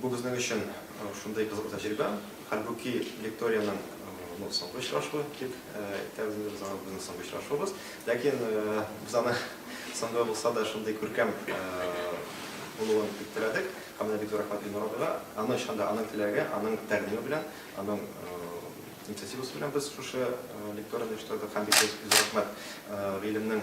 Бу безнең өчен шундый кызык тәҗрибә. Хәлбуки Викториянең ну, соңгы очрашуы дип әйтәбез инде без аны безнең соңгы очрашуыбыз. Ләкин без аны соңгы булса да шундый күркәм булуын бик теләдек. Һәм менә бик зур рәхмәт Илнур абыйга. Аның чын да аның теләге, аның тәкъдиме белән, аның инициативасы белән без шушы лекторияне оештырдык. Һәм бик зур рәхмәт гыйлемнең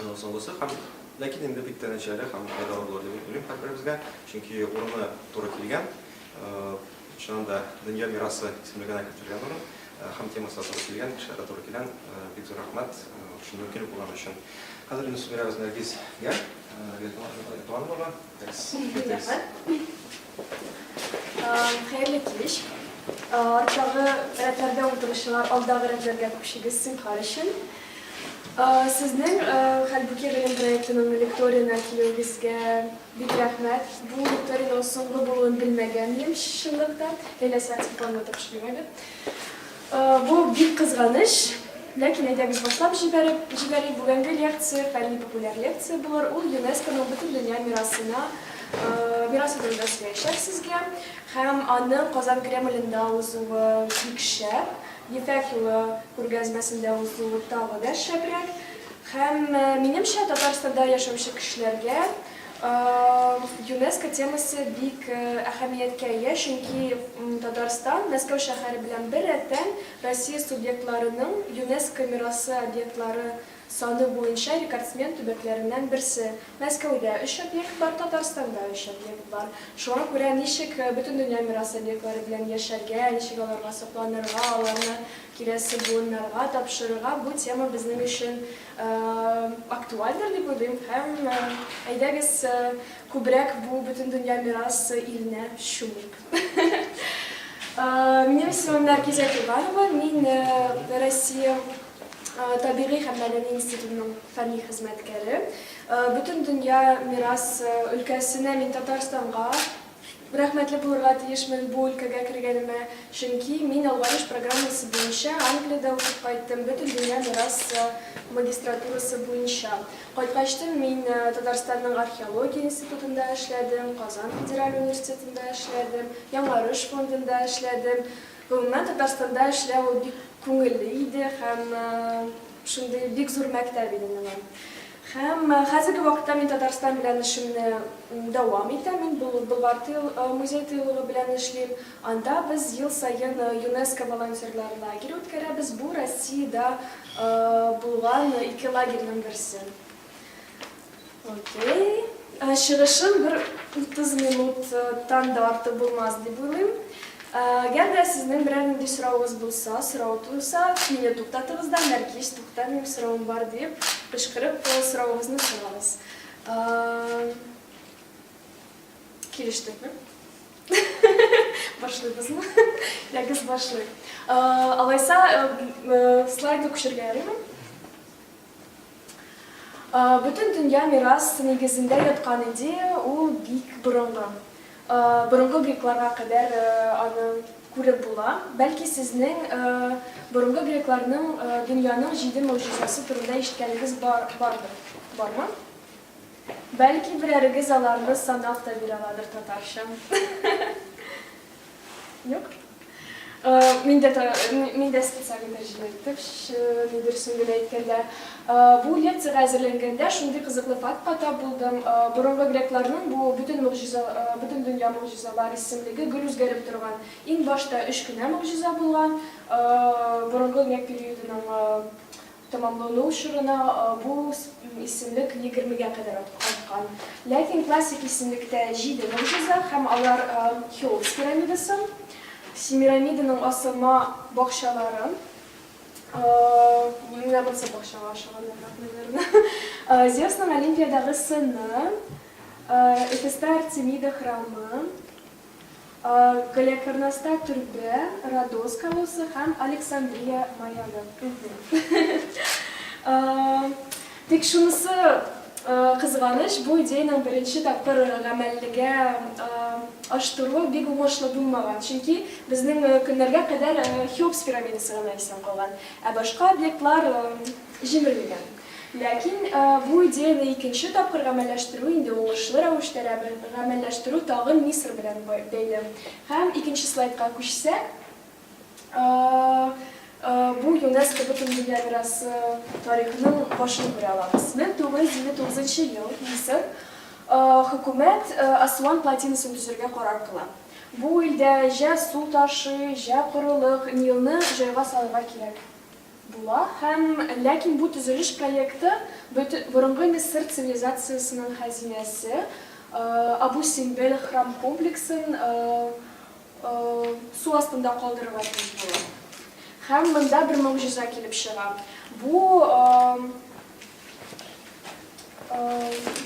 Аннан соңгысы һәм ләкин инде бик тә нәтиҗәле һәм файдалы булыр дип уйлыйм һәрберебезгә, чөнки урыны туры килгән, чыннан да дөнья мирасы исемлегенә кертелгән урын һәм темасы да туры килгән, кешеләр дә туры килән. Бик зур рәхмәт шундый мөмкинлек булган өчен. Хәзер инде сүз бирәбез Нәргизгә. Нәргиз Туганова. Хәерле кич. Арттагы рәтләрдә утыручылар алдагы рәтләргә күчегез сынхар өчен. Сезнең Хәлбүки гыйлем проектының лекториена килүегезгә бик рәхмәт. Бу лекториенең соңгы булуын белмәгән идем чынлыкта. Ләйлә Сәгъдиеваны тапшырмады. Бу бик кызганыч, ләкин әйдәгез башлап җибәреп җибәрик, бүгенге лекция фәнни популяр лекция булыр, ул ЮНЕСКОның Бөтендөнья мирасына мирасы турында сөйләячәк сезгә, һәм аның Казан Кремлендә узуы бик шәп, Ефәк юлы күргәзмәсендә узуы тагы да шәбрәк, һәм минемчә Татарстанда яшәүче кешеләргә ЮНЕСКО темасы бик әһәмияткә ия, чөнки Татарстан, Мәскәү шәһәре белән бер рәттән, Россия субъектларының ЮНЕСКО мирасы объектлары саны буенча рекордсмен төбәкләреннән берсе. Мәскәүдә өч объект бар, Татарстанда өч объект бар. Шуңа күрә ничек Бөтендөнья мирасы объектлары белән яшәргә, ничек аларга сокланырга, аларны киләсе буыннарга тапшырырга, бу тема безнең өчен Актуальдыр дип уйлыйм һәм әйдәгез күбрәк бу Бөтендөнья мирасы иленә чумыйк. Минем исемем Нәркизә Кирбанова, мин Россия табигый һәм мәдәни институтының фәнни хезмәткәре. Бөтендөнья мирасы өлкәсенә мин Татарстанга Рәхмәтле булырга тиешмен бу өлкәгә кергәнемә, чөнки мин алгарыш программасы буенча Англиядә укып кайттым, Бөтендөнья мирасы магистратурасы буенча. Кайткачтын мин Татарстанның археология институтында эшләдем, Казан федераль университетында эшләдем, Яңарыш фондында эшләдем. Гомумән, Татарстанда эшләү ул бик күңелле иде һәм Шундый бик зур мәктәп иде менә. Һәм хәзерге вакытта мин Татарстан белән эшемне дәвам итәм. Мин Болгар музей тыюлыгы белән эшлим. Анда без ел саен ЮНЕСКО волонтерлар лагере үткәрәбез. Бу Россиядә булган ике лагерьның берсе. Окей. Ә, Чыгышым бер 30 минуттан да артык булмас дип уйлыйм. Ә, Әгәр дә сезнең берәр нинди соравыгыз булса, сорау туса, мине туктатыгыз да, Нәркис, тукта, минем соравым бар дип, кычкырып э, соравыгызны сорагыз. Ә, Килештекме? Башлыйбызмы? Ягыз башлый. Ә, Алайса, э, э, слайды күчергә ярыймы? Бөтен дөнья мирас нигезендә яткан идея ул бик борынгы. Борынгы грекларга кадәр аны күреп була. Бәлки сезнең борынгы грекларның дөньяның җиде могҗизасы турында ишеткәнегез бардыр. Бармы? Бәлки берәрегез аларны санап та бирә аладыр татарча. Юк. Мин дә мин дә специаль тәрҗемә иттем, шуны дөресен генә әйткәндә. Бу лекциягә әзерләнгәндә шундый кызыклы фактка тап булдым. Борынгы грекларның бу бөтен мөгъҗиза, бөтен дөнья мөгъҗизалар исемлеге гел үзгәреп торган. Иң башта өч кенә мөгъҗиза булган. Борынгы грек периодының Тәмамлану чорына бу исемлек егермегә кадәр арткан. Ләкин классик исемлектә җиде могҗиза һәм алар, Хеопс пирамидасы, Семирамиданың асылма бакчалары, менә монысы бакчага ашаганнарга куелырына, Зевсның Олимпиядагы сыны, Эфеста Артемида храмы, Галиәкбарнаста төрбә, Родос колоссы һәм Александрия маягы. Тик шунысы кызганыч, бу идеянең беренче тапкыр гамәллегә аштыруы бик уңышлы булмаган, чөнки безнең көннәргә кадәр Хеопс пирамидасы гына исән калган, ә башка объектлар җимерелгән. Ләкин бу идеяне икенче тапкыр гамәлләштерү инде уңышлы рәвештә гамәлләштерү тагын Мисыр белән бәйле. Һәм икенче слайдка күчсәк, бу ЮНЕСКО Бөтендөнья мирасы тарихының башын күрә алабыз. 1959 ел, Мисыр, хөкүмәт Асуан плотинасын төзергә карар кыла. Бу илдә җә су ташый, җә корылык, Нилны җайга салырга кирәк. була һәм Ләкин бу төзелеш проекты бөте борынгы Мисыр цивилизациясенең хәзинәсе, Абу Симбел храм комплексын су астында калдырырга тиеш була. Һәм монда бер могҗиза килеп чыга. Бу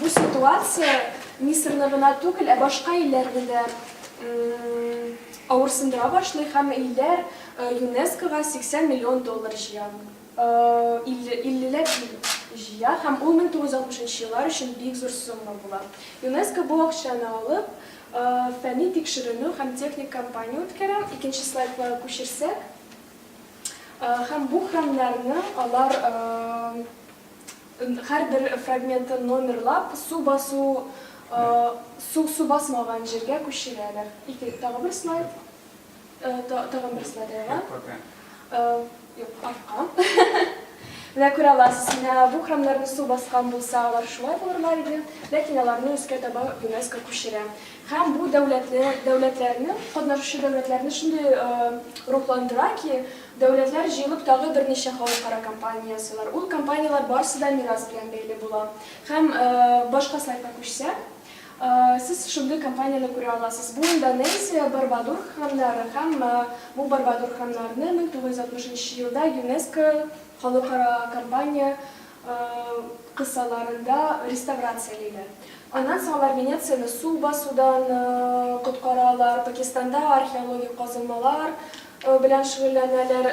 Бу ситуация Мисырны гына түгел, ә башка илләрне дә авырсындыра башлый һәм илләр ЮНЕСКОга 80 миллион доллар җыя. 50 ләп җыя һәм ул 1960 еллар өчен бик зур сумма була. ЮНЕСКО бу акчаны алып, фәнни тикшеренү һәм техник кампания үткәрә. Икенче слайдка күчерсәк. Һәм бу храмнарны алар һәрбер фрагментын номерлап, су басу, су, су басмаган җиргә күчерәләр. Ике, тагы бер слайд. Тагы бер слайд алга. Юк, артка. Менә күрә аласыз, менә бу храмнарны су баскан булса, алар шулай булырлар иде, ләкин аларны өскә таба ЮНЕСКО күчерә. Һәм бу дәүләтне, дәүләтләрне, катнашучы дәүләтләрне шундый рухландыра ки, дәүләтләр җыелып тагы берничә халыкара кампания ясыйлар. Ул кампанияләр барысы да мирас белән бәйле була. Һәм башка слайдка күчсәк, сез шундый кампанияне күрә аласыз. Бу Индонезия, Барбадур храмнары һәм бу Барбадур храмнарны 1960 нчы елда ЮНЕСКО халыкара кампания кысаларында реставрациялиләр. Аннан соң алар Венецияне су басудан коткаралар, Пакистанда археологик казылмалар белән шөгыльләнәләр.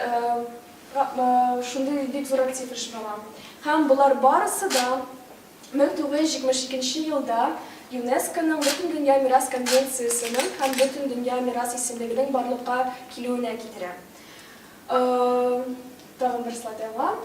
Шундый бик зур актив эш бара. Һәм болар барысы да 1972 нче елда ЮНЕСКОның Бөтендөнья мирас конвенциясенең һәм Бөтендөнья мирас исемлегенең барлыкка килүенә китерә. Тагын бер слайд алга.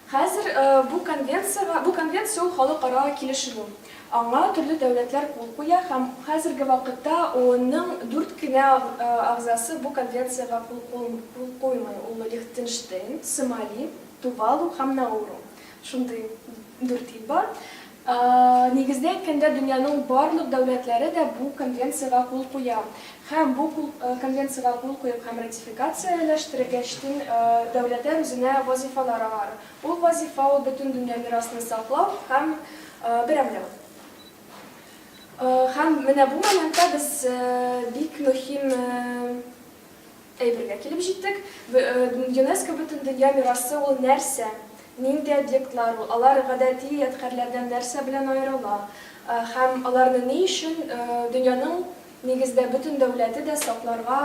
Хәзер бу конвенциягә, бу конвенция ул халыкара килешү. Аңа төрле дәүләтләр кул куя һәм хәзерге вакытта ООНның дүрт кенә әгъзасы бу конвенциягә кул куймый, ул Лихтенштейн, Сомали, Тувалу һәм Науру. Шундый дүрт ил бар. Нигездә әйткәндә, дөньяның барлык дәүләтләре дә бу конвенциягә кул куя һәм бу конвенциягә кул куеп һәм ратификацияләштергәч төн дәүләтәр үзенә вазыйфалар алар. Ул вазыйфа ул бөтен дөнья мирасны саклау һәм берәмләү. Һәм менә бу моментта без бик мөһим. Әйбергә килеп җиттек. ЮНЕСКО Бөтендөнья мирасы ул нәрсә? Нинди объектлар ул? Алар гадәти ядкарьләрдән нәрсә белән аерыла? Һәм аларны ни өчен дөньяның, нигездә, бөтен дәүләте дә сакларга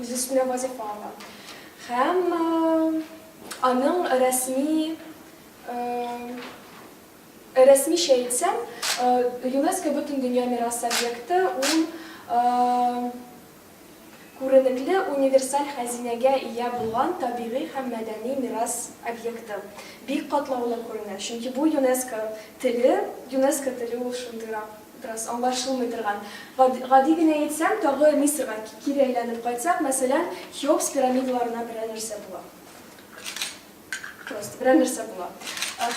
үз өстенә вазифа ала? Һәм аның рәсми, рәсмичә әйтсәм, ЮНЕСКО Бөтендөнья мирасы объекты ул, Күренекле универсаль хәзинәгә ия булган табигый һәм мәдәни мирас объекты бик катлаулы күренә, чөнки бу ЮНЕСКО теле, ЮНЕСКО теле ул шундыйрак бераз аңлашылмый торган. Гади генә әйтсәм, тагы Мисырга кире әйләнеп кайтсак, мәсәлән, Хеопс пирамидаларына берәр нәрсә була. Просто берәр нәрсә була.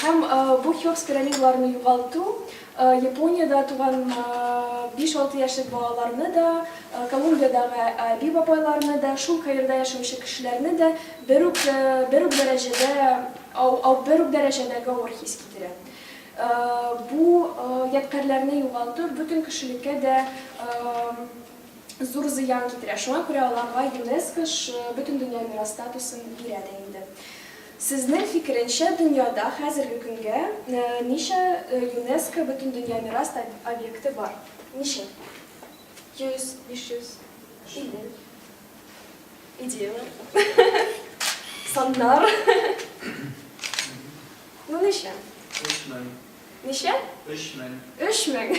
Һәм бу Хеопс пирамидаларны югалту Япониядә туган 5-6 яшьлек балаларны да, Колумбиядәге әби бабайларны да, шул Каирда яшәүче кешеләрне дә бер үк бер үк дәрәҗәдә бер үк дәрәҗәдәге авыр хис китерә. Бу ядкарьләрне югалту бөтен кешелеккә дә зур зыян китерә. Шуңа күрә аларга ЮНЕСКО шы Бөтендөнья мирас статусын бирә дә инде. Сезнең фикеренчә, дөньяда хәзерге көнгә ничә ЮНЕСКО Бөтендөнья мирас объекты бар? Ничә? Йөз, биш йөз, илле? Идеяләр? Саннар? Ну, ничә? Өч мең. Ничә? Өч мең. Өч мең.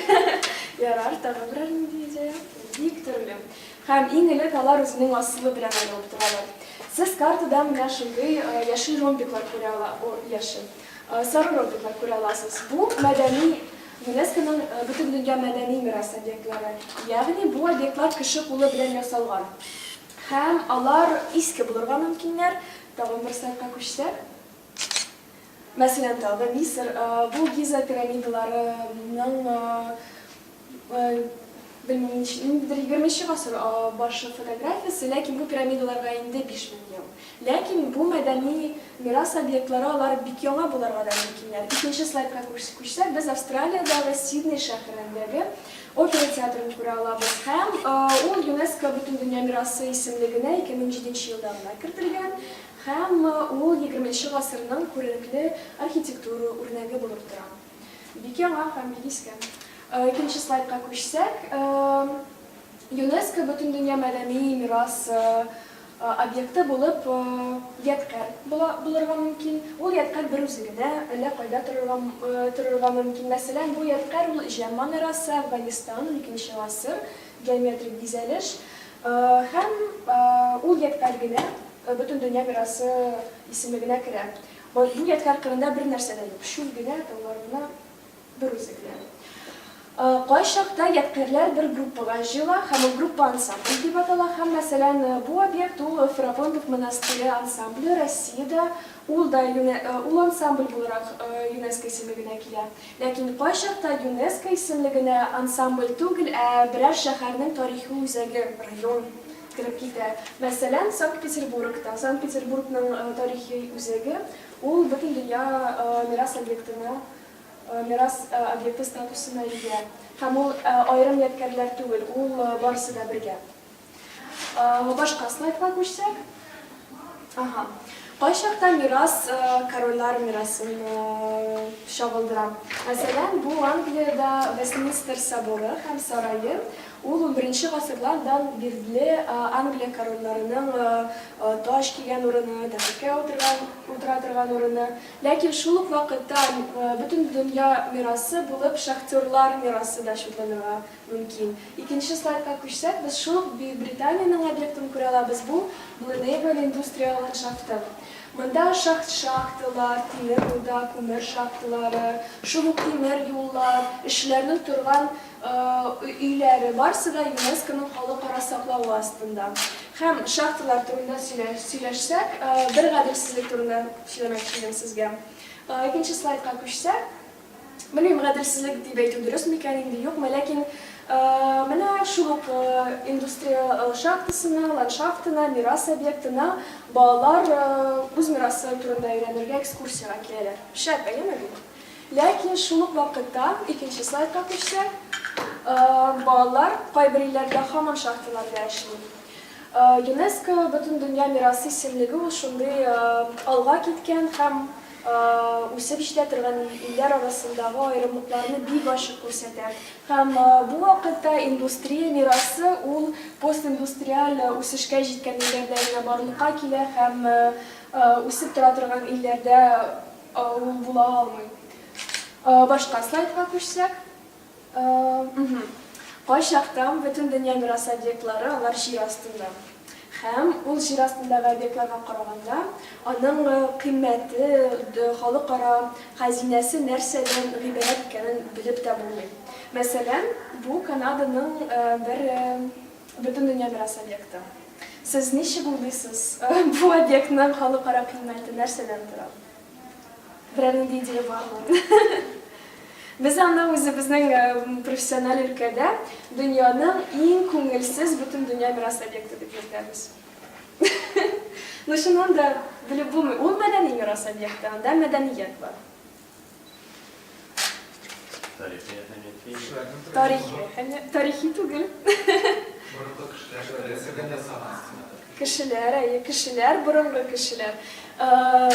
Ярар, тагы берәр нинди идея? Бик төрле. Һәм иң элек алар үзенең асылы белән аерылып торалар. Сез картада менә шундый яшел ромбиклар күрә ала, о, яшел, сары ромбиклар күрә аласыз. Бу мәдәни ЮНЕСКОның Бөтендөнья мәдәни мирас объектлары. Ягъни бу объектлар кеше кулы белән ясалган. Һәм алар иске булырга мөмкиннәр. Тагын бер слайдка күчсәк. Мәсәлән, тагы Мисыр, бу Гиза пирамидаларының, белмим, ниндидер егерме нче гасыр башы фотографиясе, ләкин бу пирамидаларга инде биш мең ел. Ләкин бу мәдәни мирас объектлары, алар бик яңа булырга да мөмкиннәр. Икенче слайдка күчсәк, без Австралиядәге Сидней шәһәрендәге опера театрын күрә алабыз һәм ул ЮНЕСКО Бөтендөнья мирасы исемлегенә ике мең җиденче елда гына кертелгән. Һәм ул егерменче гасырның күренекле архитектура үрнәге булып тора. Бик яңа һәм бик иске. Икенче слайдка күчсәк, ЮНЕСКО Бөтендөнья мәдәни мирас объекты булып ядкарь булырга мөмкин. Ул ядкарь бер үзе генә әллә кайда торырга мөмкин. Мәсәлән, бу ядкарь ул Җәм манарасы, Әфганстан, уникенче гасыр, геометрик бизәлеш, Һәм ул ядкарь генә Бөтендөнья мирасы исемлегенә керә. Бу ядкарь кырында бернәрсә дә юк, чүл генә, тауларына бер үзе генә. Кайчакта ядкарьләр бер группага җыела һәм ул группа ансамбль дип атала һәм, мәсәлән, бу объект ул Ферапонтов монастыре ансамбле, Россиядә ул да ул ансамбль буларак ЮНЕСКО исемлегенә килә. Ләкин кайчакта ЮНЕСКО исемле генә ансамбль түгел, ә берәр шәһәрнең тарихи үзәге, район, кереп китә. Мәсәлән, Санкт-Петербург та. Санкт-Петербургның тарихи үзәге, ул Бөтендөнья мирас объектына, мирас объекты статусына ия. Һәм ул аерым ядкәрләр түгел, ул барысы да бергә. Башка слайдка күчсәк. Ага. Кайчакта мирас корольлар мирасын чагылдыра. Мәсәлән, бу Англиядә Вестминстер соборы һәм сарае. Ул 11 гасырлардан бирле Англия корольларының таҗ кигән урыны, тәхеткә утыра торган урыны. Ләкин шул ук вакытта Бөтендөнья мирасы булып шахтерлар мирасы да чикләнергә Мөмкин. Икенче слайдка күчсәк, без шул ук Бөекбританиянең объектын күрә алабыз, бу, Блунейбель индустриаль ландшафты. Монда шахт шахталар, тимер руда, күмер шахталары, шул ук тимер юллар, эшчеләрнең торган өйләре, барысы да ЮНЕСКОның халыкара саклавы астында. Һәм шахталар турында сөйләшсәк, бер гаделсезлек турында сөйләмәкче идем сезгә. Икенче слайдка күчсәк. Белмим, гаделсезлек дип әйтү дөрес микән инде, юкмы, ләкин менә шул ук индустрия шахтасына, ландшафтына, мирас объектына балалар үз мирасы турында өйрәнергә экскурсиягә киләләр. Шәп, әйеме бит? Ләкин шул ук вакытта, икенче слайдка күчсәк, балалар кайбер илләрдә һаман шахталарда эшли. ЮНЕСКО Бөтендөнья мирасы исемлеге ул шундый алга киткән һәм үсеп җитә торган илләр арасындагы аерымлыкларны бик ачык күрсәтә. Һәм бу вакытта индустрия мирасы ул постиндустриаль үсешкә җиткән илләрдә генә барлыкка килә һәм үсеп тора торган илләрдә ул була алмый. Башка слайдка күчсәк. Кайчакта Бөтендөнья мирасы объектлары алар җир астында. Һәм ул җир астындагы объектларга караганда, аның кыйммәте, халыкара хәзинәсе нәрсәдән гыйбарәт икәнен белеп тә булмый. Мәсәлән, бу Канаданың бер Бөтендөнья мирасы объекты. Сез ничек уйлыйсыз, бу объектның халыкара кыйммәте нәрсәдән тора? Берәрнең дә идея бармы? Без аны үзебезнең э, профессиональ өлкәдә дөньяның иң күңелсез бөтен дөнья мирас объекты дип йөртәбез. Ну, чыннан да, белеп булмый. Ул мәдәни мирас объекты, анда мәдәният бар. Тарихи әһәмияте. Тарихи әһәмияте. Тарихи түгел. Борынгы кешеләр рәсемен ясагансыз. Кешеләр, әйе, кешеләр, борынгы кешеләр. Э,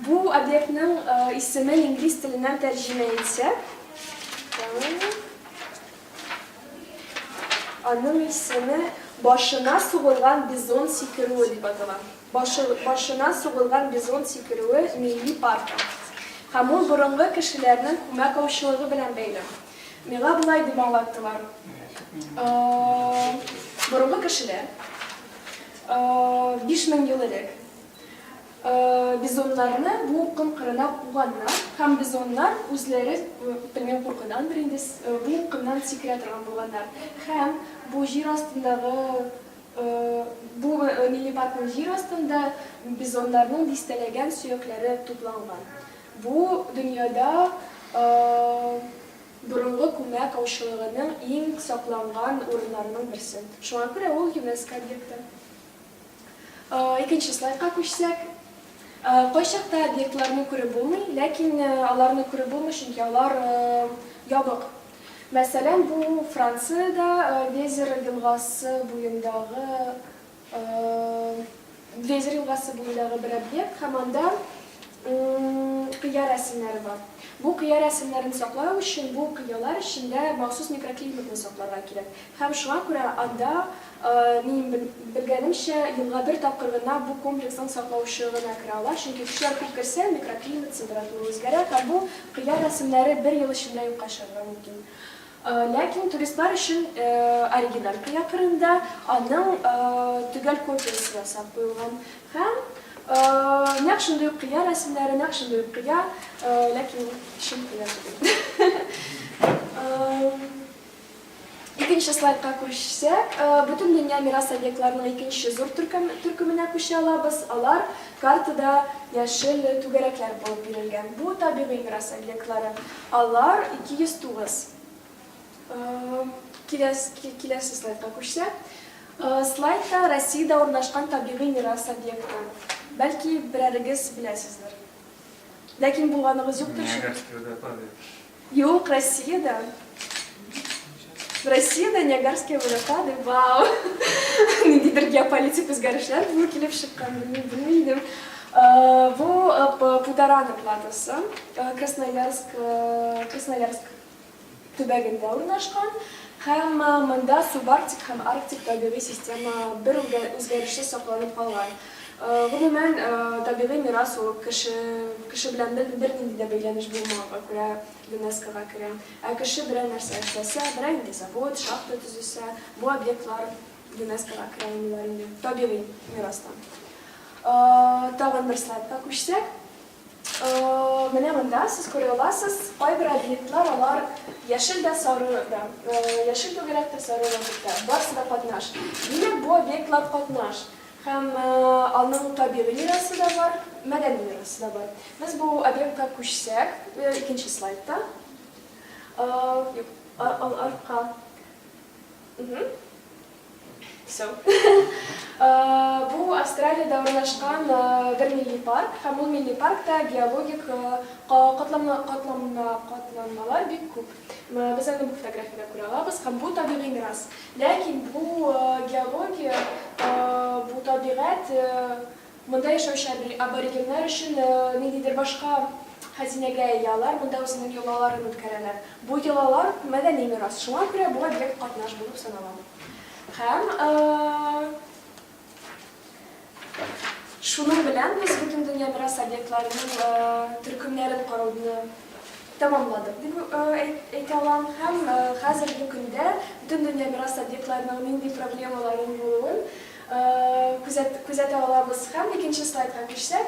бу объектның э, исеме инглиз теленнән тәрҗемә итсә, аның исеме башына сугылган бизон сикерүе дип атала. Башы, башына сугылган бизон сикерүе милли паркы. Һәм ул борынгы кешеләрнең күмәк аучылыгы белән бәйле. Миңа болай дип аңлаттылар, борынгы кешеләр, биш мең ел элек, бизоннарны бу ком кырына куганнар, һәм бизоннар үзләре, белмим, куркудандыр инде, бу комнан сикерә торган булганнар, һәм бу җир астындагы. Бу мини-паркның җир астында бизоннарның дистәләгән сөякләре тупланган. Бу, дөньяда борынгы күмәк аучылыгының иң сакланган урыннарының берсе. Шуңа күрә ул ЮНЕСКО объекты. Икенче слайдка күчсәк. Кайчакта объектларны күреп булмый, ләкин аларны күреп булмый, чөнки алар ябык. Мәсәлән, бу Франциядә Везер елгасы буендагы Везер елгасы буендагы бер объект һәм анда кыя рәсемнәре бар. Бу кыя рәсемнәрен саклау өчен бу кыялар эчендә махсус микроклиматны сакларга кирәк. Һәм шуңа күрә анда, минем белгәнемчә, елга бер тапкыр гына бу комплексның саклаучы гына керә ала, чөнки кешеләр күп керсә, микроклимат, температура үзгәрә һәм бу кыяр рәсемнәре бер ел эчендә юкка чыгарга мөмкин. Ләкин туристлар өчен оригиналь кыя кырында аның төгәл копиясе ясап куелган һәм нәкъ шундый ук кыя рәсемнәре, нәкъ шундый ук кыя, ләкин чын кыя түгел. Икенче слайдка күчсәк, Бөтендөнья мирас объектларының икенче зур төркеменә күчә алабыз, алар картада яшел түгәрәкләр булып бирелгән. Бу, табигый мирас объектлары. Алар 209. Киләсе слайдка күчсәк. Слайдта Россиядә урнашкан табигый мирас объекты. Бәлки берәрегез беләсездер. Ләкин булганыгыз юктыр шул. Юк, Россиядә. Россиядә Ниагарские водопады, вау! Ниндидер геополитик үзгәрешләр булу килеп чыккан, белми идем. Бу Пударана платосы, Красноярск, Красноярск төбәгендә урнашкан. Һәм монда субарктик һәм арктик табигый система бер үзгәрешсез сакланып калган. Гомумән, табигый мирас ул, кеше, кеше белән бернинди дә бәйләнеш булмаганга күрә ЮНЕСКОга керә. Ә кеше берәр нәрсә эшләсә, берәр нинди завод, шахта төзесә, бу объектлар ЮНЕСКОга керә алмыйлар инде, табигый мирастан. Тагын бер слайдка күчсәк. Менә монда сез күрә аласыз, кайбер объектлар алар яшел дә, сары да, яшел түгәрәк тә, сары да, барысы да катнаш. Димәк, бу объектлар катнаш. Һәм аның табигый мирасы да бар, мәдәни мирасы да бар. Без бу объектка күчсәк, икенче слайдта, юк, артка, все. Бу Австралиядә урнашкан бер милли парк, һәм ул милли паркта геологик катланмалар бик күп. Без аны бу фотографиядә күрә алабыз, һәм бу табигый мирас. Ләкин бу геология, бу табигать, монда яшәүче аборигеннар өчен ниндидер башка хәзинәгә ия, алар монда үзенең йолаларын үткәрәләр. Бу йолалар, мәдәни мирас, шуңа күрә бу объект катнаш булып санала. Һәм. Шуның белән без Бөтендөнья мирас объектларының төркемнәрен карауны тәмамладык дип әйтә алам һәм хәзерге көндә Бөтендөнья мирас объектларының нинди проблемаларның булуын күзәтә алабыз. Һәм икенче слайдка күчсәк,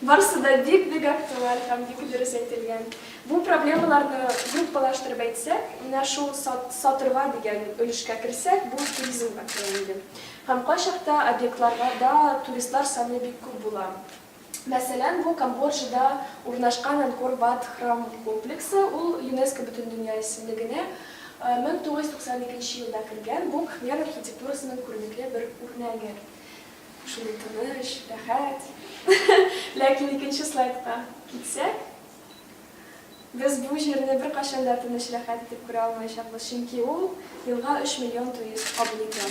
Барысы да бик бик актуаль һәм бик дөрес әйтелгән. Бу проблемаларны группалаштырып әйтсәк, менә шул сатырга дигән өлешкә керсәк, бу туризмга керә инде. Һәм кайчакта объектларга да туристлар саны бик күп була. Мәсәлән, бу Камбоджада урнашкан Анкор-Ват храм комплексы, ул ЮНЕСКО Бөтендөнья исемлегенә 1992 елда кергән, бу Кхмер архитектурасының күренекле бер үрнәге. Шундый тыныч, рәхәт. Ләкин икенче слайдка китсәк, без бу җирне беркайчан да тыныч, рәхәт итеп күрә алмаячакбыз, чөнки ул елга 3 миллион турист кабул итә.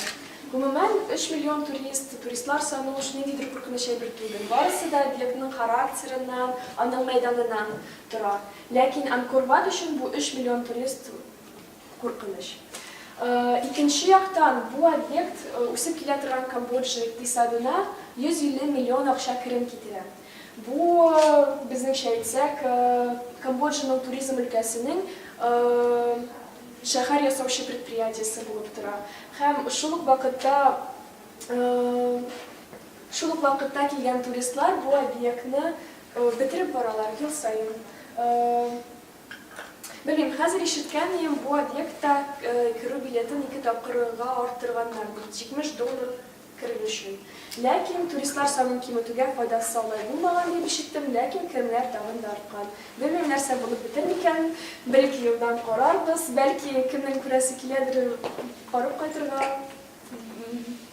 Гомумән, 3 миллион турист, туристлар саны уж ниндидер куркыныч әйбер түгел. Барысы да объектның характерыннан, аның мәйданыннан тора. Ләкин Анкор-Ват өчен бу 3 миллион турист, Куркыныч. Икенче яктан, бу объект үсеп килә торган Камбоджа икътисадына 150 миллион акча керем китерә. Бу, безнеңчә әйтсәк, Камбоджаның туризм өлкәсенең шәһәр ясаучы предприятиесе булып тора. Һәм шул ук вакытта шул ук вакытта килгән туристлар бу объектны бетереп баралар ел саен. Белмим, хәзер ишеткән идем, бу объектта керү билетын ике тапкырга арттырганнар бит, 70 доллар керү өчен. Ләкин туристлар санын киметүгә файдасы алай булмаган дип ишеттем, ләкин керемнәр тагын да арткан. Белмим, нәрсә булып бетәр микән, бер-ике елдан карарбыз, бәлки, кемнең күрәсе киләдер, барып кайтырга,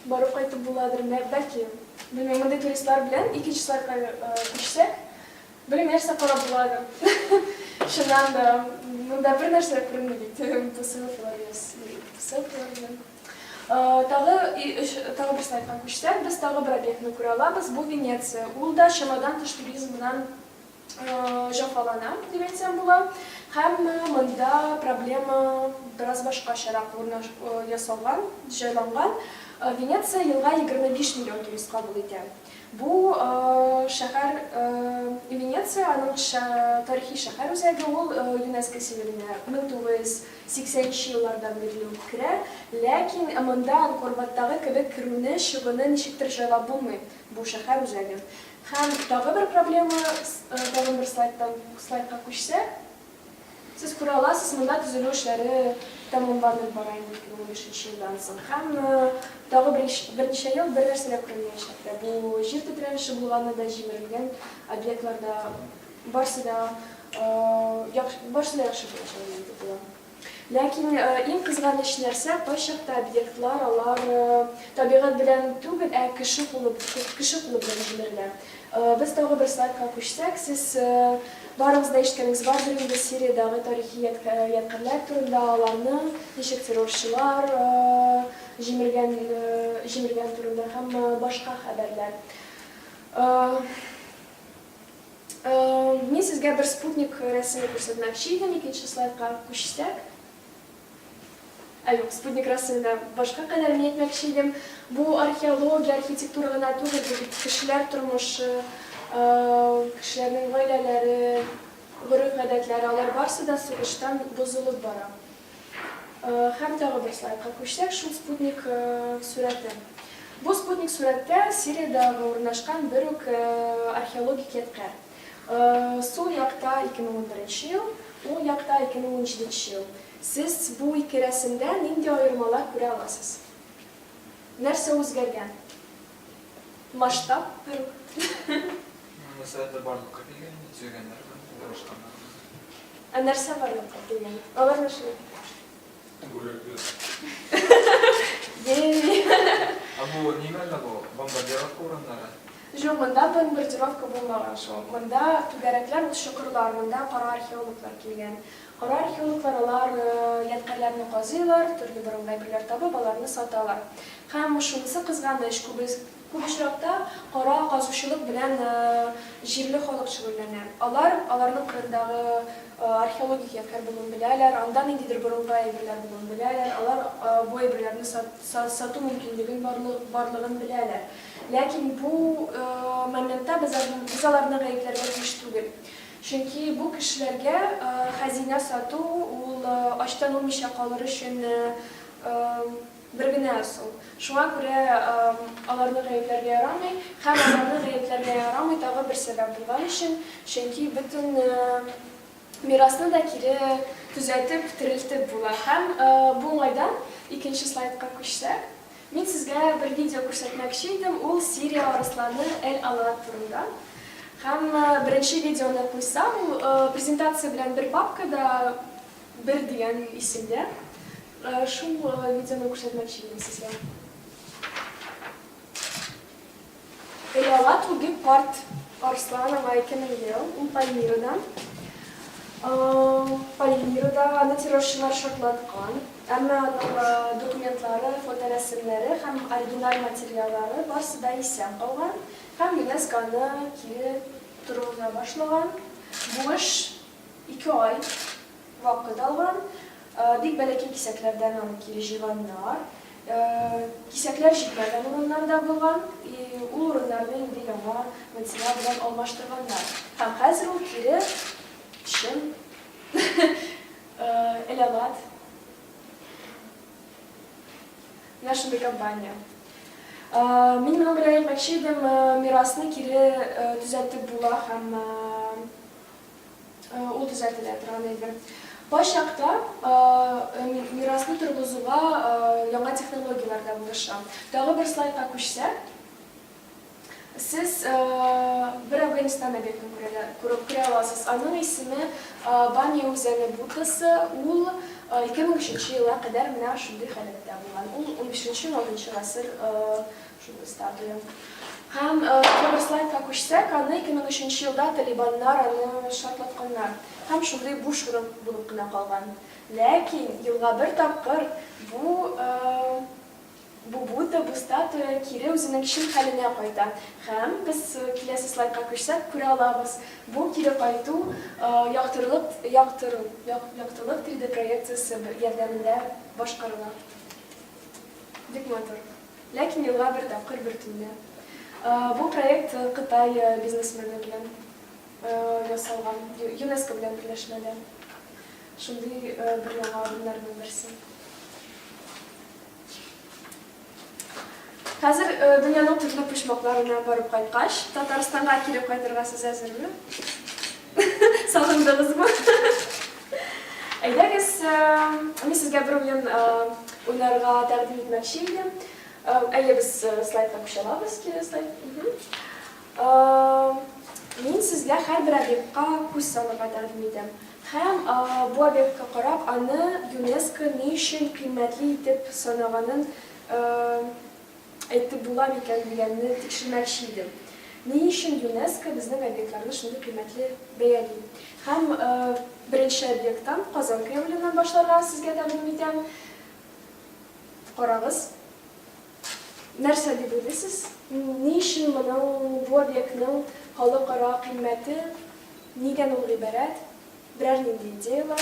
барып кайтып буладыр, бәлки. Белмим, мондый туристлар белән ике число күчсәк. Бер нәрсә карап була әле. Чыннан да, монда бер нәрсә дә күренми бит. Бу сыйфатлар яз. Сыйфатлар белән. Тагы өч тагы бер слайдка күчсәк, без тагы бер объектны күрә алабыз. Бу Венеция. Ул да чамадан тыш туризм белән җәфалана, дип әйтсәм була. Һәм монда проблема бераз башкачарак урнаш ясалган, җайланган. Венеция елга 25 миллион турист кабул итә. Бу шәһәр Венеция, аның тарихи шәһәр үзәге, ул ЮНЕСКО символенә 1980 нче еллардан бирле үк керә. Ләкин монда Анкорваттагы кебек керүне, чыгуны ничектер җайлап булмый, бу шәһәр үзәге. Һәм тагы бер проблема, тагын бер слайдтан слайдка күчсәк. Сез күрә аласыз, монда төзелү эшләре тәмамланып бара инде 2005 елдан соң һәм тагы берничә ел бернәрсә дә күренмәячәк тә. Бу җир тетрәлеше булганы да, җимерелгән объектлар да, барсы да барсы да яхшы булачак дип көтелә. Ләкин иң кызганыч нәрсә, кайчакта объектлар алар табигать белән түгел, ә кеше кулы кеше кулы белән җимерелә. Без тагы бер слайдка күчсәк, сез барыгыз да ишеткәнегез бардыр инде Сириядәге тарихи ядкәрләр турында, аларны ничек террорчылар җимергән җимергән турында һәм башка хәбәрләр. Мин сезгә бер спутник рәсеме күрсәтмәкче идем, икенче слайдка күчсәк. Ә юк, спутник рәсеменә башка кадәр ни әйтмәкче идем, бу археология, архитектура гына түгел, бу бит кешеләр тормышы, кешеләрнең гаиләләре, гореф-гадәтләре, алар барысы да сугыштан бозылып бара. Һәм тагы бер слайдка күчсәк, шул спутник сурәте. Бу спутник сурәттә Сириядә урнашкан бер үк археологик ядкарь. Сул якта 2011 ел, уң якта 2017 ел. Сез бу ике рәсемдә нинди аермалар күрә аласыз? Нәрсә үзгәргән? Масштаб берүк. Сәләтләр барлыкка килгән инде, төзегәннәр дә, урнаштырганнар да. Ә нәрсә барлыкка килгән? Алар нәрсә? Ә бу нимәле бу? Бомбардировка урыннары? Жоқ, мында бомбардировка булмаган шул. Мында түгәрәкләр ул чокырлар, мында кара археологлар килгән. Кара археологлар алар э, ядкәрләрне казыйлар, төрле борынгы әйберләр табып, аларны саталар. Һәм шунысы кызганыч, күбес Күп очракта кара казучылык белән җирле халык шөгыльләнә. Алар аларның кырындагы археологик ядкарь булуын беләләр, анда ниндидер борынгы әйберләр булуын беләләр, алар бу әйберләрне сату мөмкинлеген барлыгын беләләр. Ләкин бу моментта без аларны гаепләргә тиеш түгел. Чөнки бу кешеләргә хәзинә сату ул ачтан үлмичә калыр өчен Бер генә ысул. Шуңа күрә аларны гаепләргә ярамый. Һәм аларны гаепләргә ярамый тагы бер сәбәп булган өчен, чөнки бөтен мирасны да кире төзәтеп, терелтеп була. Һәм бу уңайдан, икенче слайдка күчсәк, мин сезгә бер видео күрсәтмәкче идем, ул Сирия арысланы Эль-Алаат турында. Һәм беренче видеоны куйсам, ул презентация белән бер папкада, бер дигән исемдә, Шул видеоны күрсәтмәкче идем сезгә. Элала туги парт Арслан ага 2000 ел, ул Пальмирада. Пальмирада аны террорчылар шартлаткан, әмма аның документлары, фоторәсемнәре һәм оригиналь материаллары барсы да исән калган һәм ЮНЕСКО аны кире торгыза башлаган. Бу эш Ике ай вакыт алган. Бик бәләкәй кисәкләрдән аны кире җыйганнар. Кисәкләр җитмәгән урыннар да булган. Ул урыннарны инде яңа материал белән алмаштырганнар. Һәм хәзер ул кире чын элемат. Менә шундый компания. Мин моның белән әйтмәкче идем, мирасны кире төзәтеп була һәм Ул төзәтелә торган әйбер. Кайчакта мирасны торгызуга яңа технологияләр дә булыша. Тагы бер слайдка күчсәк, сез бер Әфганстан объектын күрә аласыз. Аның исеме Бамия үзәне Буддасы. Ул 2003 елга кадәр менә шундый халәттә булган. Ул унбишенче-уналтынчы гасыр Шундый статуя. Һәм бер слайдка күчсәк, аны 2003 елда талибаннар аны шартлатканнар. Һәм шундый буш урын булып кына калган. Ләкин елга бер тапкыр бу бу Будда, бу статуя кире үзенең чын хәленә кайта. Һәм без киләсе слайдка күчсәк, күрә алабыз, бу кире кайту яктырылык яктыру яктылык 3D проекциясе ярдәмендә башкарыла. Бик матур. Ләкин елга бер тапкыр бер төнлә. Бу проект Кытай бизнесмены белән ясалган, ЮНЕСКО белән берләшмәдә. Шундый бер яңа адымнарның берсе. Хәзер дөньяның төрле почмакларына барып кайткач, Татарстанга кире кайтырга сез әзерме? Сагындыгызмы? Әйдәгез, мин сезгә бер уен уйнарга тәкъдим итмәкче идем. Әле без слайдка күчәләбез, кире слайд. Мин сезгә һәрбер объектка күз салырга тәкъдим итәм. Һәм бу объектка карап, аны ЮНЕСКО ни өчен кыйммәтле итеп санаганын әйтеп була микән дигәнне тикшермәкче идем. Ни өчен ЮНЕСКО безнең объектларны шундый кыйммәтле бәяли? Һәм беренче объекттан, Казан Кремленнән башларга сезгә тәкъдим итәм. Карагыз. Нәрсә дип уйлыйсыз? Ни өчен моның, бу объектның халыкара кыйммәте, нидән ул гыйбарәт? Берәр нинди идеяләр?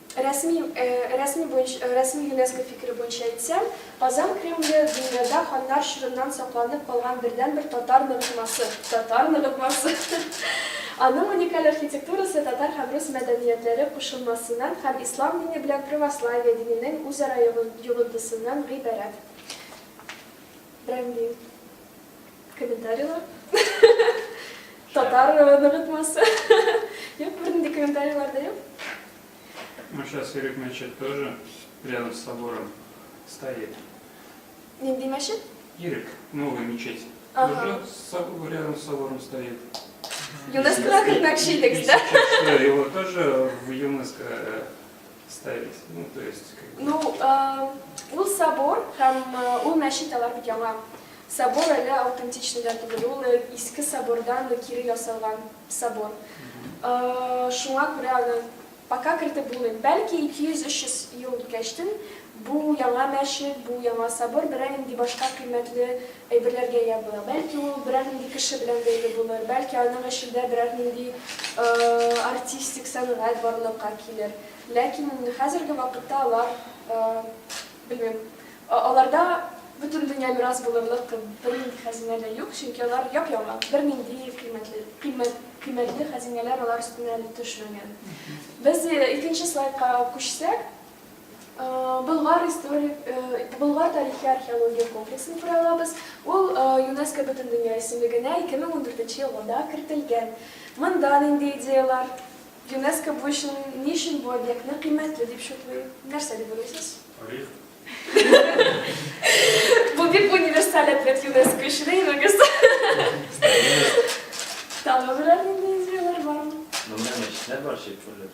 Рәсми рәсми буенча рәсми ЮНЕСКО фикере буенча әйтсәм, Казан Кремле, дөньяда ханнар чорыннан сакланып калган бердәнбер татар ныгытмасы, татар ныгытмасы! Аның уникаль архитектурасы татар һәм рус мәдәниятләре кушылмасыннан һәм ислам дине белән православие диненең үзара йогынтысыннан гыйбарәт. Брендинг. Комментарийлар. Татар ныгытмасы. Юк, бернинди комментарийлар да юк. Ну, сейчас Ирек Мечет тоже рядом с собором стоит. Нинди мәчет? Ирек, новая мечеть. Ага. Тоже с, рядом с собором стоит. ЮНЕСКО как начальник, да? Сейчас, его тоже в ЮНЕСКО э, Ставить, ну, то есть... Ну, э, ул собор һәм э, ул мәчет алар бит яңа. Собор әле аутентичный да түгел, ул э, иске собордан кире ясалган собор. Э, шуңа күрә аны пока кертеп булмый. Бәлки 200-300 ел үткәчтен Бу яңа мәчет, бу яңа собор берәр нинди башка кыйммәтле әйберләргә ия була. Бәлки ул берәр нинди кеше белән бәйле булыр, бәлки аның эчендә берәр нинди артистик сәнгать барлыкка килер. Ләкин инде хәзерге вакытта алар, белмим, аларда бөтендөнья мирас булырлык бер нинди хәзинә дә юк, чөнки алар яп-яңа, бер нинди кыйммәтле, кыйммәт, кыйммәтле хәзинәләр алар өстенә әле төшмәгән. Без икенче слайдка күчсәк. Болгар историк, Болгар тарихи археология комплексын күрә алабыз. Ул ЮНЕСКО Бөтендөнья исемлегенә 2014 елында кертелгән. Монда нинди идеяләр? ЮНЕСКО бу өчен ни өчен бу объектны кыйммәтле дип шутлый? Нәрсә дип уйлыйсыз? Тарих. Бу бик универсаль ответ ЮНЕСКО өчен, әйбәгез. Тагы берәр нинди идеяләр бармы? Монда мәчетләр бар, чепчурлар.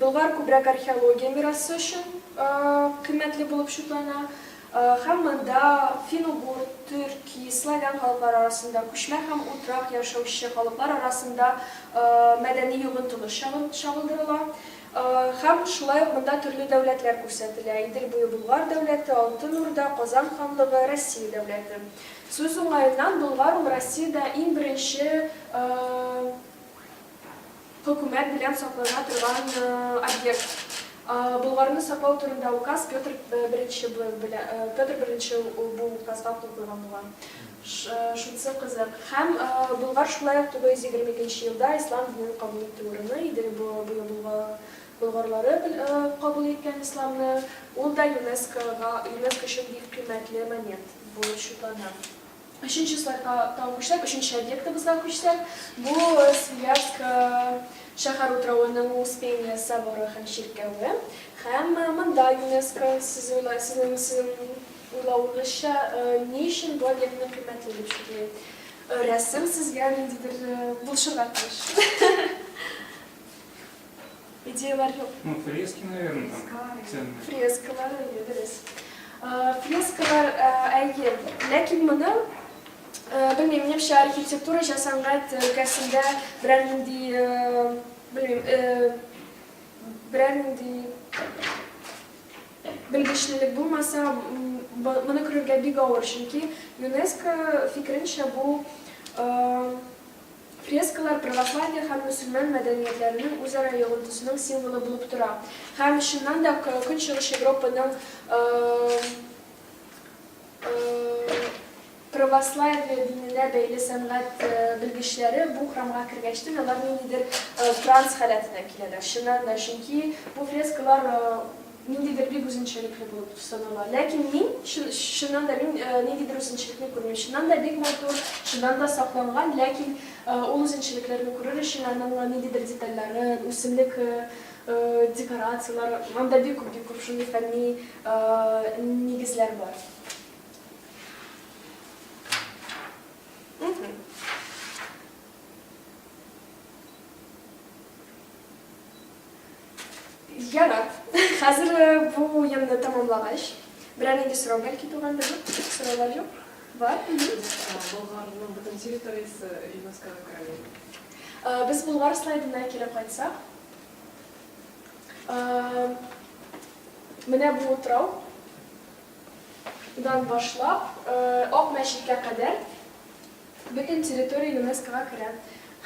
Болгар күбрәк археология мирасы өчен кыйммәтле булып шутлана һәм монда фин-угур, төрки, славян халыклары арасында, күчмә һәм утрак яшәүче халыклар арасында мәдәни йогынтылыш чагылдырыла һәм шулай ук монда төрле дәүләтләр күрсәтелә, Идел буе Болгар дәүләте, Алтын Урда, Казан ханлыгы, Россия дәүләте. Сүз уңаеннан, Болгар ул Россиядә иң беренче Хөкүмәт белән саклана торган объект. Болгарны саклау турында указ Петр I бел белән Петр I ул бу указга кул куйган булган. Ш шунсы кызык. Һәм Болгар шулай ук 922 елда ислам динен кабул итте урыны иде бу быел булга болгарлары бел кабул иткән исламны. Ул да ЮНЕСКОга ЮНЕСКО өчен бик кыйммәтле момент булып счетлана. Өченче слайдка тагын күчсәк, өченче объектыбызга күчсәк, бу Свияжск шәһәр утравының Успение соборы һәм чиркәве. Һәм монда ЮНЕСКО, сез уйла, сезнең, сезнең уйлавыгызча, ни өчен бу объектны кыйммәтле дип чиклим? Рәсем сезгә ниндидер булышырга тиеш. Идеялар юк. Ну, фрески, наверное, там ценные. Фрескалар, әйе, дөрес. Фрескалар, әйе. Ләкин моны белмим, минемчә архитектура һәм сәнгать өлкәсендә берәр нинди, белмим, берәр нинди белгечлелек булмаса, моны күрергә бик авыр, чөнки ЮНЕСКО фикеренчә бу Фрескалар православие һәм мөселман мәдәниятләренең үзара йогынтысының символы булып тора һәм, чыннан да, Көнчыгыш Европаның православие диненә бәйле сәнгать белгечләре бу храмга кергәчтен алар ниндидер транс халәтенә киләләр, чыннан да, чөнки бу фрескалар Ниндидер бик үзенчәлекле булып санала. Ләкин мин, чыннан да, мин ниндидер үзенчәлекне күрмим. Чыннан да бик матур, чыннан да сакланган, ләкин ул үзенчәлекләрне күрер өчен аның ниндидер детальләрен, үсемлек декорацияләре, анда бик күп, бик күп шундый фәнни нигезләр бар. Ярар. Хәзер э, бу уенны тәмамлагач, берәр нинди сорау бәлки тугандыр? Сораулар юк? Бар? Болгарның бөтен территориясе ЮНЕСКОга керәме? Э, Без Болгар слайдына кире кайтсак, э, менә бу утрау дан башлап, э, Ак мәчеткә кадәр Бөтен территория ЮНЕСКОга керә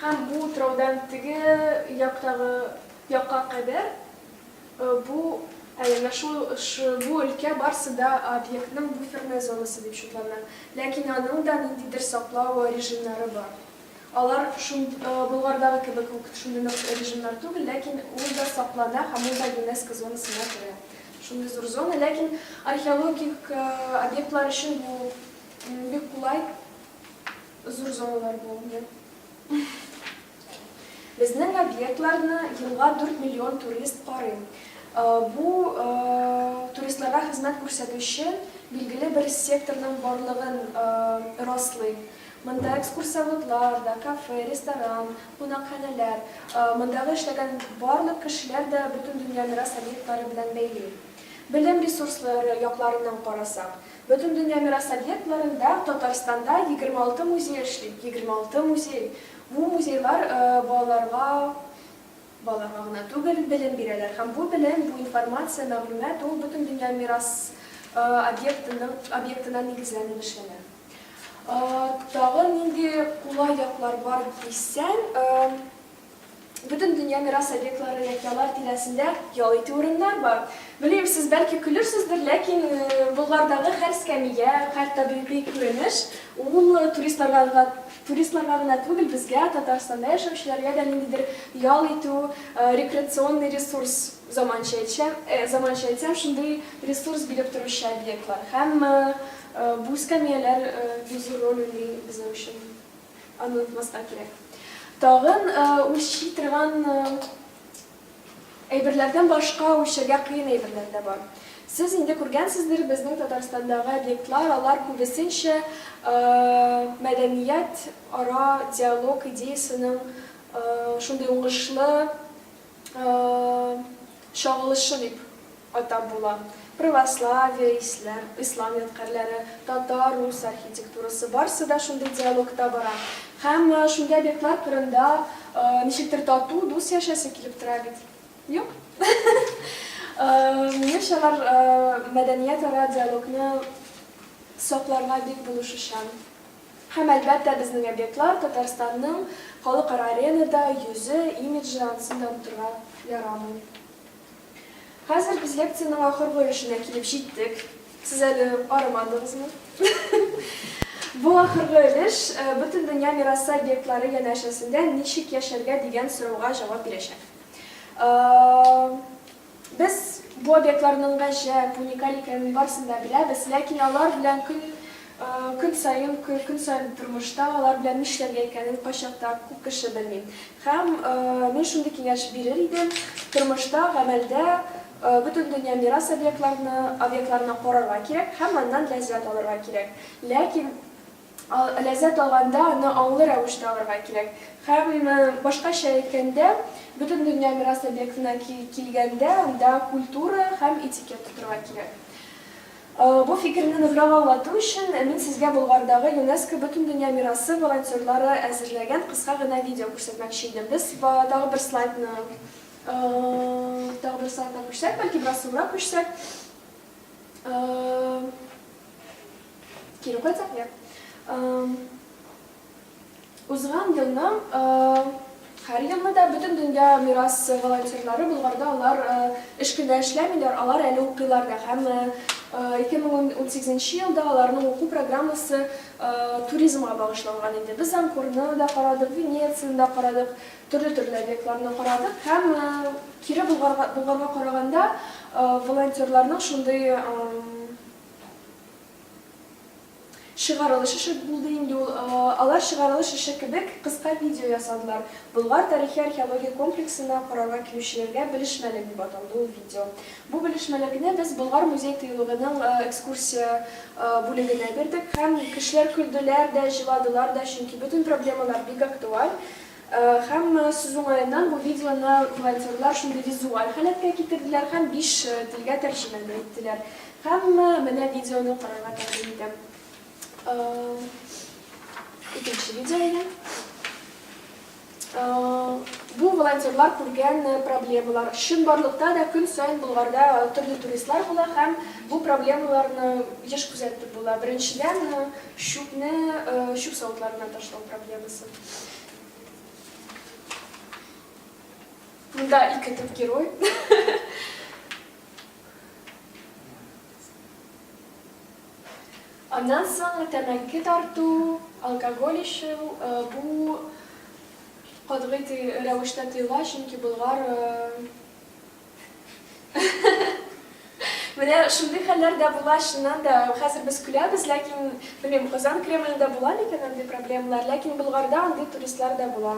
һәм бу утраудан теге яктагы якка кадәр бу әнә шул бу өлкә барысы да объектның буферная зонасы дип шотлана. Ләкин аның да ниндидер саклау режимнары бар. Алар Болгардагы кебек үк шундый нык режимнар түгел, ләкин ул да саклана һәм ул да ЮНЕСКО зонасына керә. Шундый зур зона, ләкин археологик объектлар өчен бу Бик кулай, зур зоналар булынды. Безнең объектларны елга 4 миллион турист карый. Бу туристларга хезмәт күрсәтүче билгеле бер секторның барлыгын раслый. Монда экскурсоводлар да, кафе, ресторан, кунакханәләр, мондагы эшләгән барлык кешеләр дә бөтен дөнья мирас объектлары белән бәйле. Белем ресурслары якларыннан карасак, Бөтендөнья мирас объектларында Татарстанда егерме алты музей эшли. Егерме алты музей! Бу музейлар балаларга балаларга гына түгел, белем бирәләр. Һәм бу белем, бу информация, мәгълүмат ул Бөтендөнья мирас объектының объектына нигезләнеп эшләнә. Тагын нинди кулай яклар бар дисәң, Бөтен дөнья мирас объектлары яки алар тирәсендә ял итү урыннар бар. Белмим, сез бәлки көлерсездер, ләкин Болгардагы һәр эскәмия, һәр табигый күренеш ул туристларга туристларга гына түгел, безгә, Татарстанда яшәүчеләргә дә ниндидер ял итү, рекреационный ресурс, заманча әйтсәм, заманча әйтсәм, шундый ресурс биреп торучы объектлар. Һәм бу эскәмияләр бик зур роль уйный безнең өчен. Аны онытмаска кирәк. Тагын үлчи торган әйберләрдән башка үлчәргә кыен әйберләр дә бар. Сез инде күргәнсездер, безнең Татарстандагы объектлар, алар күбесенчә мәдәният ара диалог идеясенең шундый уңышлы чагылышы дип атап була. Православие, ислам, ислам ядкарьләре, татар, рус архитектурасы, барсы да шундый диалогта бара. Һәм шундый объектлар кырында ничектер тату, дус яшәсе килеп тора бит. Юк? Менәш алар мәдәният ара диалогны сакларга бик булышучан. Һәм, әлбәттә, безнең объектлар Татарстанның халыкара аренада йөзе, имиджы, ансын да онытырга ярамый. Хәзер без лекциянең ахыргы өлешенә килеп җиттек. Сез әле арымадыгызмы? Бу ахыргы өлеш Бөтендөнья мирасы объектлары янәшәсендә ничек яшәргә дигән сорауга җавап бирәчәк. Без бу объектларның гаҗәп, уникаль икәнен барысын да беләбез, ләкин алар белән көн, көн саен, көн саен тормышта алар белән нишләргә икәнен кайчак та күп кеше белми. Һәм мин шундый киңәш бирер идем, тормышта, гамәлдә Бөтендөнья мирас объектларны, объектларына карарга кирәк һәм аннан ләззәт алырга кирәк. Ләкин. Ләззәт алганда аны аңлы рәвештә алырга кирәк. Һәм башкача әйткәндә, Бөтендөнья мирасы объектына килгәндә, анда культура һәм этикет тотырга кирәк. Бу фикерне ныграк аңлату өчен, мин сезгә Болгардагы ЮНЕСКО Бөтендөнья мирасы волонтерлары әзерләгән кыска гына видео күрсәтмәкче идем. Без тагы бер слайдны тагы бер слайдны күрсәк, бәлки бераз соңрак күчсәк. Кире кайтсак, я. Узган елның һәр елны да бөтен дөнья мирас волонтерлары Болгарда алар эш көндә эшләмиләр, алар әле укыйлар да. Һәм 2018 елда аларның уку программасы туризмга багышланган иде. Без Анкорны да карадык, Венецияны да карадык, төрле-төрле объектларны карадык һәм кире Болгарга караганда волонтерларның шундый Чыгарылышы шәп булды инде ул. Алар чыгарылыш эше кебек кыска видео ясадылар. Болгар тарихи-археология комплексына карарга килүчеләргә белешмәлек дип аталды ул видео. Бу белешмәлекне без Болгар музей-тыюлыгының экскурсия бүлегенә бирдек һәм кешеләр көлделәр дә, җыладылар да, чөнки бөтен проблемалар бик актуаль. Һәм сүз уңаеннан, бу видеоны волонтерлар шундый визуаль халәткә китерделәр һәм биш телгә тәрҗемә дә иттеләр. Һәм менә видеоны карарга тәкъдим итәм. Икенче видео әйдә. Бу волонтерлар күргән проблемалар. Чынбарлыкта да көн саен Болгарда төрле туристлар була һәм бу проблемаларны еш күзәтеп була. Беренчедән, чүпне чүп савытларына ташлау проблемасы. Монда ике төп герой. Аннан соң тәмәке тарту, алкоголь эчү, бу катгый рәвештә тыела, чөнки болгар Менә шундый хәлләр дә була, чыннан да. Хәзер без көләбез, ләкин, белмим, Казан Кремлендә була микән андый проблемалар, ләкин Болгарда андый туристлар да була.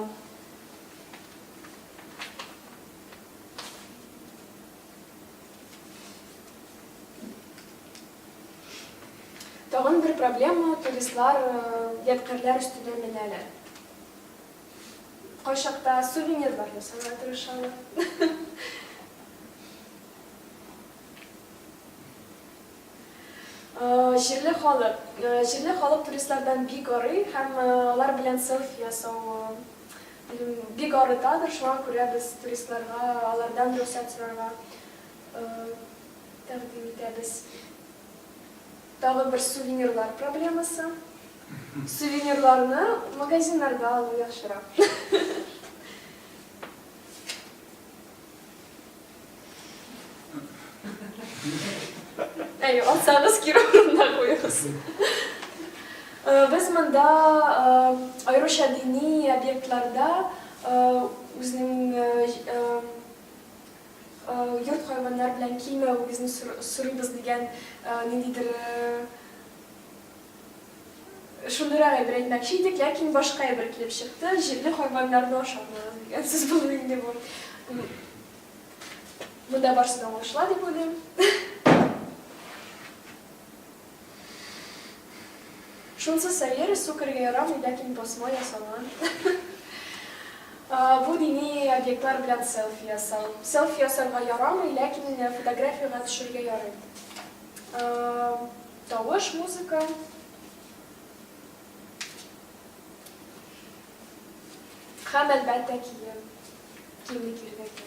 Тагын бер проблема, туристлар ядкарьләр өстенә менәләр. Кайчакта сувенирлар ясарга тырышалар. Җирле халык. Җирле халык туристлардан бик арый һәм алар белән селфи ясау бик арытадыр, шуңа күрә без туристларга алардан рөхсәт сорарга тәкъдим итәбез. Тагы бер сувенирлар проблемасы. Сувенирларны магазиннарда алу яхшырак. Әйе, алсагыз кире урынына куегыз. Э, без монда э, аеруча дини объектларда э, үзенең йорт хайваннар белән килмәвегезне сорыйбыз дигән ниндидер Шундыйрак әйбер әйтмәкче идек, ләкин башка әйбер килеп чыкты, җирле хайваннарны ашамагыз дигән сүз булыр инде бу. Монда барысы да уңышла дип уйлыйм. Шунсы сәер, су кергә ярамый, ләкин посмо ясалган. Бу дини объектлар белән селфи ясау. Селфи ясарга ярамый, ләкин фотографиягә төшергә ярый. Тавыш, музыка. Һәм, әлбәттә, кием. Кимлек ирнеке.